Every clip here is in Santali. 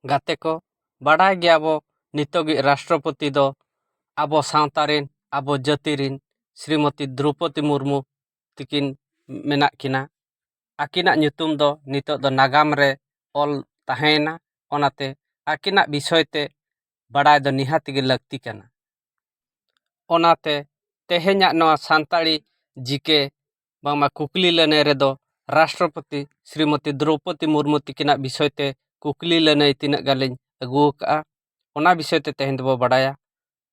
ᱜᱟᱛᱮ ᱠᱚ ᱵᱟᱰᱟᱭ ᱜᱮᱭᱟ ᱵᱚ ᱱᱤᱛᱚᱜᱤᱡ ᱨᱟᱥᱴᱨᱚᱯᱚᱛᱤ ᱫᱚ ᱟᱵᱚ ᱥᱟᱶᱛᱟ ᱨᱮᱱ ᱟᱵᱚ ᱡᱟᱹᱛᱤ ᱨᱮᱱ ᱥᱨᱤᱢᱚᱛᱤ ᱫᱨᱳᱣᱯᱚᱫᱤ ᱢᱩᱨᱢᱩ ᱛᱤᱠᱤᱱ ᱢᱮᱱᱟᱜ ᱠᱤᱱᱟ ᱟᱹᱠᱤᱱᱟᱜ ᱧᱩᱛᱩᱢ ᱫᱚ ᱱᱤᱛᱚᱜ ᱫᱚ ᱱᱟᱜᱟᱢ ᱨᱮ ᱚᱞ ᱛᱟᱦᱮᱸᱭᱮᱱᱟ ᱚᱱᱟᱛᱮ ᱟᱹᱠᱤᱱᱟᱜ ᱵᱤᱥᱚᱭ ᱛᱮ ᱵᱟᱰᱟᱭ ᱫᱚ ᱱᱤᱦᱟᱹᱛ ᱜᱮ ᱞᱟᱹᱠᱛᱤ ᱠᱟᱱᱟ ᱚᱱᱟᱛᱮ ᱛᱮᱦᱮᱧᱟᱜ ᱱᱚᱣᱟ ᱥᱟᱱᱛᱟᱲᱤ ᱡᱤᱠᱮ ᱵᱟᱝᱢᱟ ᱠᱩᱠᱞᱤ ᱞᱟᱹᱱᱟᱹᱭ ᱨᱮᱫᱚ ᱨᱟᱥᱴᱨᱚᱯᱚᱛᱤ ᱥᱨᱤᱢᱚᱛᱤ ᱫᱨᱳᱣᱯᱚᱫᱤ ᱢᱩᱨᱢᱩ ᱛᱟᱹᱠᱤᱱᱟᱜ ᱵᱤᱥᱚᱭ ᱛᱮ ᱠᱩᱠᱞᱤ ᱞᱟᱹᱱᱟᱹᱭ ᱛᱤᱱᱟᱹᱜ ᱜᱟᱱ ᱞᱤᱧ ᱟᱹᱜᱩ ᱟᱠᱟᱫᱼᱟ ᱚᱱᱟ ᱵᱤᱥᱚᱭ ᱛᱮ ᱛᱮᱦᱮᱧ ᱫᱚᱵᱚᱱ ᱵᱟᱲᱟᱭᱟ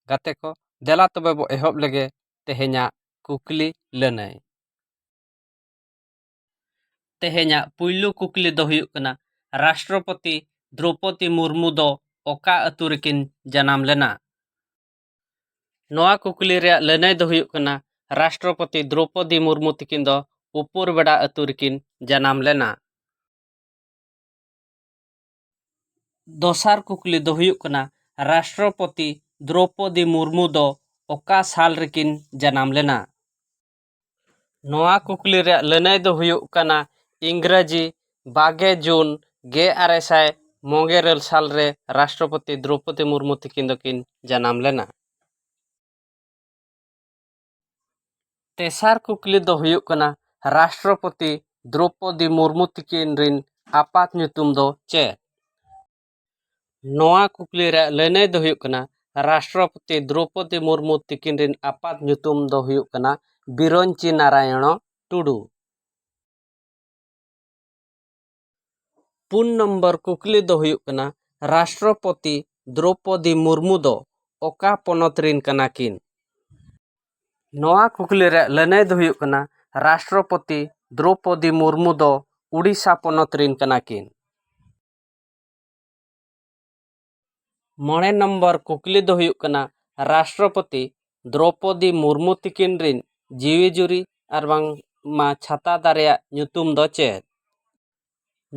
ᱜᱟᱛᱮ ᱠᱚ ᱫᱮᱞᱟ ᱛᱚᱵᱮ ᱵᱚᱱ ᱮᱦᱚᱵ ᱞᱮᱜᱮ ᱛᱮᱦᱮᱧᱟᱜ ᱠᱩᱠᱞᱤ ᱞᱟᱹᱱᱟᱹᱭ ᱛᱮᱦᱮᱧᱟᱜ ᱯᱩᱭᱞᱩ ᱠᱩᱠᱞᱤ ᱫᱚ ᱦᱩᱭᱩᱜ ᱠᱟᱱᱟ ᱨᱟᱥᱴᱨᱚᱯᱚᱛᱤ ᱫᱨᱳᱣᱯᱚᱫᱤ ᱢᱩᱨᱢᱩ ᱫᱚ ᱚᱠᱟ ᱟᱹᱛᱩ ᱨᱮᱠᱤᱱ ᱡᱟᱱᱟᱢ ᱞᱮᱱᱟ ᱱᱚᱣᱟ ᱠᱩᱠᱞᱤ ᱨᱮᱭᱟᱜ ᱞᱟᱹᱱᱟᱹᱭ ᱫᱚ ᱦᱩᱭᱩᱜ ᱠᱟᱱᱟ ᱨᱟᱥᱴᱨᱚᱯᱚᱛᱤ ᱫᱨᱳᱣᱯᱚᱫᱤ ᱢᱩᱨᱢᱩ ᱛᱤᱠᱤᱱ ᱫᱚ ᱩᱯᱩᱨ ᱵᱮᱰᱟ ᱟᱹᱛᱩ ᱨᱮᱠᱤᱱ ᱡᱟᱱᱟᱢ ᱞᱮᱱᱟ᱾ ᱫᱚᱥᱟᱨ ᱠᱩᱠᱞᱤ ᱫᱚ ᱦᱩᱭᱩᱜ ᱠᱟᱱᱟ ᱨᱟᱥᱴᱨᱚᱯᱚᱛᱤ ᱫᱨᱳᱣᱯᱚᱫᱤ ᱢᱩᱨᱢᱩ ᱫᱚ ᱚᱠᱟ ᱥᱟᱞ ᱨᱮᱠᱤᱱ ᱡᱟᱱᱟᱢ ᱞᱮᱱᱟ? ᱱᱚᱣᱟ ᱠᱩᱠᱞᱤ ᱨᱮᱭᱟᱜ ᱞᱟᱹᱱᱟᱹᱭ ᱫᱚ ᱦᱩᱭᱩᱜ ᱠᱟᱱᱟ ᱤᱝᱨᱟᱹᱡᱤ ᱵᱟᱜᱮ ᱡᱩᱱ ᱜᱮ ᱟᱨᱮ ᱥᱟᱭ ᱢᱚᱜᱮ ᱤᱨᱟᱹᱞ ᱥᱟᱞ ᱨᱮ ᱨᱟᱥᱴᱨᱚᱯᱚᱛᱤ ᱫᱨᱳᱣᱯᱚᱫᱤ ᱢᱩᱨᱢᱩ ᱛᱟᱹᱠᱤᱱ ᱫᱚᱠᱤᱱ ᱡᱟᱱᱟᱢ ᱞᱮᱱᱟ ᱛᱮᱥᱟᱨ ᱠᱩᱠᱞᱤ ᱫᱚ ᱦᱩᱭᱩᱜ ᱠᱟᱱᱟ ᱨᱟᱥᱴᱨᱚᱯᱚᱛᱤ ᱫᱨᱳᱣᱯᱚᱫᱤ ᱢᱩᱨᱢᱩ ᱛᱟᱹᱠᱤᱱ ᱨᱮᱱ ᱟᱯᱟᱛ ᱧᱩᱛᱩᱢ ᱫᱚ ᱪᱮᱫ ᱱᱚᱣᱟ ᱠᱩᱠᱞᱤ ᱨᱮᱭᱟᱜ ᱞᱟᱹᱱᱟᱹᱭ ᱫᱚ ᱦᱩᱭᱩᱜ ᱠᱟᱱᱟ ᱨᱟᱥᱴᱨᱚᱯᱚᱛᱤ ᱫᱨᱳᱣᱯᱚᱫᱤ ᱢᱩᱨᱢᱩ ᱛᱤᱠᱤᱱ ᱨᱮᱱ ᱟᱯᱟᱛ ᱧᱩᱛᱩᱢ ᱫᱚ ᱦᱩᱭᱩᱜ ᱠᱟᱱᱟ ᱵᱤᱨᱚᱧᱪᱤ ᱱᱟᱨᱟᱭᱚᱬᱚ ᱴᱩᱰᱩ ᱯᱩᱱ ᱱᱚᱢᱵᱚᱨ ᱠᱩᱠᱞᱤ ᱫᱚ ᱦᱩᱭᱩᱜ ᱠᱟᱱᱟ ᱨᱟᱥᱴᱨᱚᱯᱚᱛᱤ ᱫᱨᱳᱣᱯᱚᱫᱤ ᱢᱩᱨᱢᱩ ᱫᱚ ᱚᱠᱟ ᱯᱚᱱᱚᱛ ᱨᱮᱱ ᱠᱟᱱᱟ ᱠᱤᱱ ᱱᱚᱣᱟ ᱠᱩᱠᱞᱤ ᱨᱮᱭᱟᱜ ᱞᱟᱹᱱᱟᱹᱭ ᱫᱚ ᱦᱩᱭᱩᱜ ᱠᱟᱱᱟ ᱨᱟᱥᱴᱨᱚᱯᱚᱛᱤ ᱫᱨᱳᱣᱯᱚᱫᱤ ᱢᱩᱨᱢᱩ ᱫᱚ ᱳᱰᱤᱥᱟ ᱯᱚᱱᱚᱛ ᱨᱮᱱ ᱠᱟᱱᱟ ᱠᱤᱱ ᱢᱚᱬᱮ ᱱᱚᱢᱵᱚᱨ ᱠᱩᱠᱞᱤ ᱫᱚ ᱦᱩᱭᱩᱜ ᱠᱟᱱᱟ ᱨᱟᱥᱴᱨᱚᱯᱚᱛᱤ ᱫᱨᱳᱯᱚᱫᱤ ᱢᱩᱨᱢᱩ ᱛᱤᱠᱤᱱ ᱨᱤᱱ ᱡᱤᱣᱤ ᱡᱩᱨᱤ ᱟᱨ ᱵᱟᱝ ᱢᱟ ᱪᱷᱟᱛᱟ ᱫᱟᱨᱮᱭᱟᱜ ᱧᱩᱛᱩᱢ ᱫᱚ ᱪᱮᱫ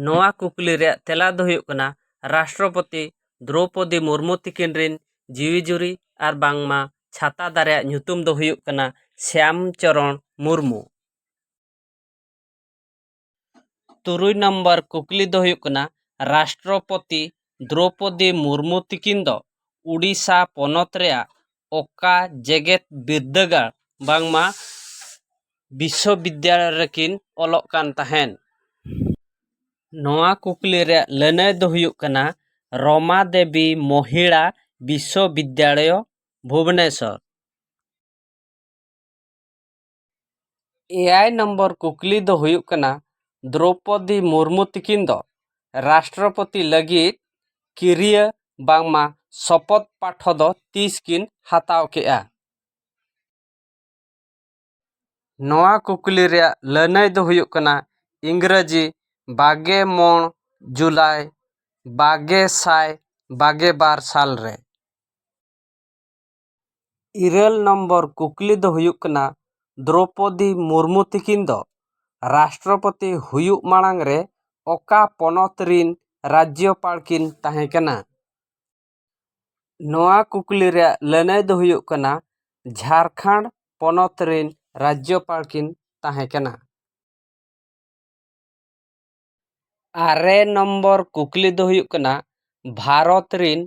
ᱱᱚᱣᱟ ᱠᱩᱠᱞᱤ ᱨᱮᱭᱟᱜ ᱛᱮᱞᱟ ᱫᱚ ᱦᱩᱭᱩᱜ ᱠᱟᱱᱟ ᱨᱟᱥᱴᱨᱚᱯᱚᱛᱤ ᱫᱨᱳᱯᱚᱫᱤ ᱢᱩᱨᱢᱩ ᱛᱤᱠᱤᱱ ᱨᱤᱱ ᱡᱤᱣᱤ ᱡᱩᱨᱤ ᱟᱨ ᱵᱟᱝ ᱢᱟ ᱪᱷᱟᱛᱟ ᱫᱟᱨᱮᱭᱟᱜ ᱧᱩᱛᱩᱢ ᱫᱚ ᱦᱩᱭᱩᱜ ᱠᱟᱱᱟ ᱥᱭᱟᱢ ᱪᱚᱨᱚᱬ ᱢᱩᱨᱢᱩ ᱛᱩᱨᱩᱭ ᱱᱟᱢᱵᱟᱨ ᱠᱩᱠᱞᱤ ᱫᱚ ᱦᱩᱭᱩᱜ ᱠᱟᱱᱟ ᱨᱟᱥᱴᱨᱚᱯᱚᱛᱤ ᱫᱨᱳᱣᱯᱚᱫᱤ ᱢᱩᱨᱢᱩ ᱛᱤᱠᱤᱱ ᱫᱚ ᱳᱰᱤᱥᱟ ᱯᱚᱱᱚᱛ ᱨᱮᱭᱟᱜ ᱚᱠᱟ ᱡᱮᱜᱮᱛ ᱵᱤᱨᱫᱟᱹᱜᱟᱲ ᱵᱟᱝᱢᱟ ᱵᱤᱥᱥᱚ ᱵᱤᱫᱽᱫᱟᱹᱜᱟᱲ ᱨᱮᱠᱤᱱ ᱚᱞᱚᱜ ᱠᱟᱱ ᱛᱟᱦᱮᱱ ᱱᱚᱣᱟ ᱠᱩᱠᱞᱤ ᱨᱮᱭᱟᱜ ᱞᱟᱹᱱᱟᱹᱭ ᱫᱚ ᱦᱩᱭᱩᱜ ᱠᱟᱱᱟ ᱨᱚᱢᱟ ᱫᱮᱵᱤ ᱢᱚᱦᱤᱞᱟ ᱵᱤᱥᱥᱚ ᱵᱤᱫᱽᱫᱟᱞᱚᱭ ᱵᱷᱩᱵᱽᱱᱮᱥᱚᱨ ᱮᱭᱟᱭ ᱱᱚᱢᱵᱚᱨ ᱠᱩᱠᱞᱤ ᱫᱚ ᱦᱩᱭᱩᱜ ᱠᱟᱱᱟ ᱫᱨᱳᱣᱯᱚᱫᱤ ᱢᱩᱨᱢᱩ ᱛᱤᱠᱤᱱ ᱫᱚ ᱨᱟᱥᱴᱨᱚᱯᱚᱛᱤ ᱞᱟᱹᱜᱤᱫ ᱠᱤᱨᱤᱭᱟᱹ ᱵᱟᱝᱢᱟ ᱥᱚᱯᱚᱛ ᱯᱟᱴᱷᱚ ᱫᱚ ᱛᱤᱥ ᱠᱤᱱ ᱦᱟᱛᱟᱣ ᱠᱮᱫᱼᱟ ᱱᱚᱣᱟ ᱠᱩᱠᱞᱤ ᱨᱮᱭᱟᱜ ᱞᱟᱹᱱᱟᱹᱭ ᱫᱚ ᱦᱩᱭᱩᱜ ᱠᱟᱱᱟ ᱤᱝᱨᱟᱹᱡᱤ ᱵᱟᱜᱮ ᱢᱚᱬ ᱡᱩᱞᱟᱭ ᱵᱟᱜᱮ ᱥᱟᱭ ᱵᱟᱜᱮ ᱵᱟᱨ ᱥᱟᱞ ᱨᱮ ᱤᱨᱟᱹᱞ ᱱᱚᱢᱵᱚᱨ ᱠᱩᱠᱞᱤ ᱫᱚ ᱦᱩᱭᱩᱜ ᱠᱟᱱᱟ ᱫᱨᱳᱯᱚᱫᱤ ᱢᱩᱨᱢᱩ ᱛᱤᱠᱤᱱ ᱫᱚ ᱨᱟᱥᱴᱨᱚᱯᱚᱛᱤ ᱦᱩᱭᱩᱜ ᱢᱟᱲᱟᱝ ᱨᱮ ᱚᱠᱟ ᱯᱚᱱᱚᱛ ᱨᱤᱱ ᱨᱟᱡᱽᱡᱚᱯᱟᱲ ᱠᱤᱱ ᱛᱟᱦᱮᱸ ᱠᱟᱱᱟ ᱱᱚᱣᱟ ᱠᱩᱠᱞᱤ ᱨᱮᱭᱟᱜ ᱞᱟᱹᱱᱟᱹᱭ ᱫᱚ ᱦᱩᱭᱩᱜ ᱠᱟᱱᱟ ᱡᱷᱟᱨᱠᱷᱚᱸᱰ ᱯᱚᱱᱚᱛ ᱨᱤᱱ ᱨᱟᱡᱽᱡᱚᱯᱟᱲ ᱠᱤᱱ ᱛᱟᱦᱮᱸ ᱠᱟᱱᱟ ᱟᱨᱮ ᱱᱚᱢᱵᱚᱨ ᱠᱩᱠᱞᱤ ᱫᱚ ᱦᱩᱭᱩᱜ ᱠᱟᱱᱟ ᱵᱷᱟᱨᱚᱛ ᱨᱤᱱ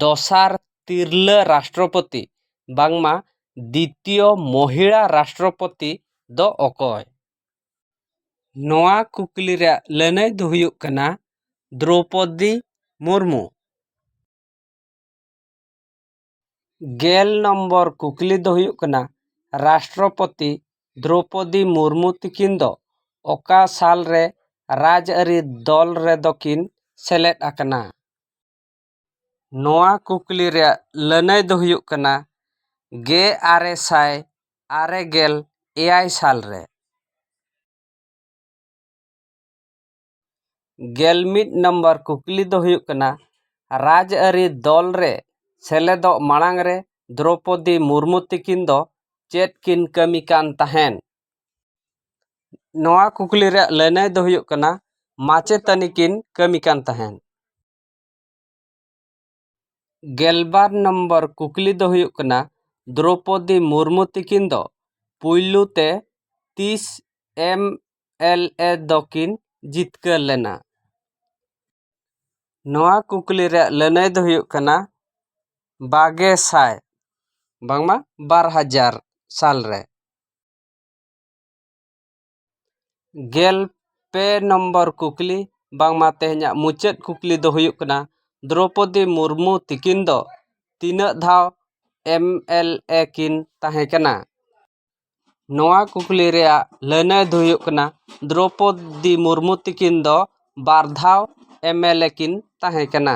ᱫᱚᱥᱟᱨ ᱛᱤᱨᱞᱟᱹ ᱨᱟᱥᱴᱨᱚᱯᱚᱛᱤ ᱵᱟᱝᱢᱟ ᱫᱤᱛᱤᱭᱚ ᱢᱚᱦᱤᱞᱟ ᱨᱟᱥᱴᱨᱚᱯᱚᱛᱤ ᱫᱚ ᱚᱠᱚᱭ ᱱᱚᱣᱟ ᱠᱩᱠᱞᱤ ᱨᱮᱭᱟᱜ ᱞᱟᱹᱱᱟᱹᱭ ᱫᱚ ᱦᱩᱭᱩᱜ ᱠᱟᱱᱟ ᱫᱨᱳᱯᱚᱫᱤ ᱢᱩᱨᱢᱩ ᱜᱮᱞ ᱱᱚᱢᱵᱚᱨ ᱠᱩᱠᱞᱤ ᱫᱚ ᱦᱩᱭᱩᱜ ᱠᱟᱱᱟ ᱨᱟᱥᱴᱨᱚᱯᱚᱛᱤ ᱫᱨᱳᱣᱯᱚᱫᱤ ᱢᱩᱨᱢᱩ ᱛᱤᱠᱤᱱ ᱫᱚ ᱚᱠᱟ ᱥᱟᱞ ᱨᱮ ᱨᱟᱡᱽ ᱟᱹᱨᱤ ᱫᱚᱞ ᱨᱮᱫᱚ ᱠᱤᱱ ᱥᱮᱞᱮᱫ ᱟᱠᱟᱱᱟ ᱱᱚᱣᱟ ᱠᱩᱠᱞᱤ ᱨᱮᱭᱟᱜ ᱞᱟᱹᱱᱟᱹᱭ ᱫᱚ ᱦᱩᱭᱩᱜ ᱠᱟᱱᱟ ᱜᱮ ᱟᱨᱮ ᱥᱟᱭ ᱟᱨᱮ ᱜᱮᱞ ᱮᱭᱟᱭ ᱥᱟᱞ ᱨᱮ ᱜᱮᱞ ᱢᱤᱫ ᱱᱟᱢᱵᱟᱨ ᱠᱩᱠᱞᱤ ᱫᱚ ᱦᱩᱭᱩᱜ ᱠᱟᱱᱟ ᱨᱟᱡᱽ ᱟᱹᱨᱤ ᱫᱚᱞ ᱨᱮ ᱥᱮᱞᱮᱫᱚᱜ ᱢᱟᱲᱟᱝ ᱨᱮ ᱫᱨᱳᱯᱚᱫᱤ ᱢᱩᱨᱢᱩ ᱛᱤᱠᱤᱱ ᱫᱚ ᱪᱮᱫ ᱠᱤᱱ ᱠᱟᱹᱢᱤ ᱠᱟᱱ ᱛᱟᱦᱮᱸᱫ ᱱᱚᱣᱟ ᱠᱩᱠᱞᱤ ᱨᱮᱭᱟᱜ ᱞᱟᱹᱱᱟᱹᱭ ᱫᱚ ᱦᱩᱭᱩᱜ ᱠᱟᱱᱟ ᱢᱟᱪᱮᱛᱟᱹᱱᱤ ᱠᱤᱱ ᱠᱟᱹᱢᱤ ᱠᱟᱱ ᱛᱟᱦᱮᱸᱫ ᱜᱮᱞᱵᱟᱨ ᱱᱚᱢᱵᱚᱨ ᱠᱩᱠᱞᱤ ᱫᱚ ᱦᱩᱭᱩᱜ ᱠᱟᱱᱟ ᱫᱨᱳᱯᱚᱫᱤ ᱢᱩᱨᱢᱩ ᱛᱤᱠᱤᱱ ᱫᱚ ᱯᱩᱭᱞᱩ ᱛᱮ ᱛᱤᱥ ᱮᱢ ᱮᱞ ᱮ ᱫᱚᱠᱤᱱ ᱡᱤᱛᱠᱟᱹᱨ ᱞᱮᱱᱟ ᱱᱚᱣᱟ ᱠᱩᱠᱞᱤ ᱨᱮᱭᱟᱜ ᱞᱟᱹᱱᱟᱹᱭ ᱫᱚ ᱦᱩᱭᱩᱜ ᱠᱟᱱᱟ ᱵᱟᱜᱮ ᱥᱟᱭ ᱵᱟᱝᱢᱟ ᱵᱟᱨ ᱦᱟᱡᱟᱨ ᱥᱟᱞ ᱨᱮ ᱜᱮᱞ ᱯᱮ ᱱᱚᱢᱵᱚᱨ ᱠᱩᱠᱞᱤ ᱵᱟᱝᱢᱟ ᱛᱮᱦᱮᱧᱟᱜ ᱢᱩᱪᱟᱹᱫ ᱠᱩᱠᱞᱤ ᱫᱚ ᱦᱩᱭᱩᱜ ᱠᱟᱱᱟ ᱫᱨᱳᱯᱚᱫᱤ ᱢᱩᱨᱢᱩ ᱛᱤᱠᱤᱱ ᱫᱚ ᱛᱤᱱᱟᱹᱜ ᱫᱷᱟᱣ ᱮᱢ ᱮᱞ ᱮ ᱠᱤᱱ ᱛᱟᱦᱮᱸ ᱠᱟᱱᱟ ᱱᱚᱣᱟ ᱠᱩᱠᱞᱤ ᱨᱮᱭᱟᱜ ᱞᱟᱹᱱᱟᱹᱭ ᱫᱚ ᱦᱩᱭᱩᱜ ᱠᱟᱱᱟ ᱫᱨᱳᱯᱚᱫᱤ ᱢᱩᱨᱢᱩ ᱛᱤᱠᱤᱱ ᱫᱚ ᱵᱟᱨ ᱫᱷᱟᱣ ᱮᱢ ᱮᱞ ᱮ ᱠᱤᱱ ᱛᱟᱦᱮᱸ ᱠᱟᱱᱟ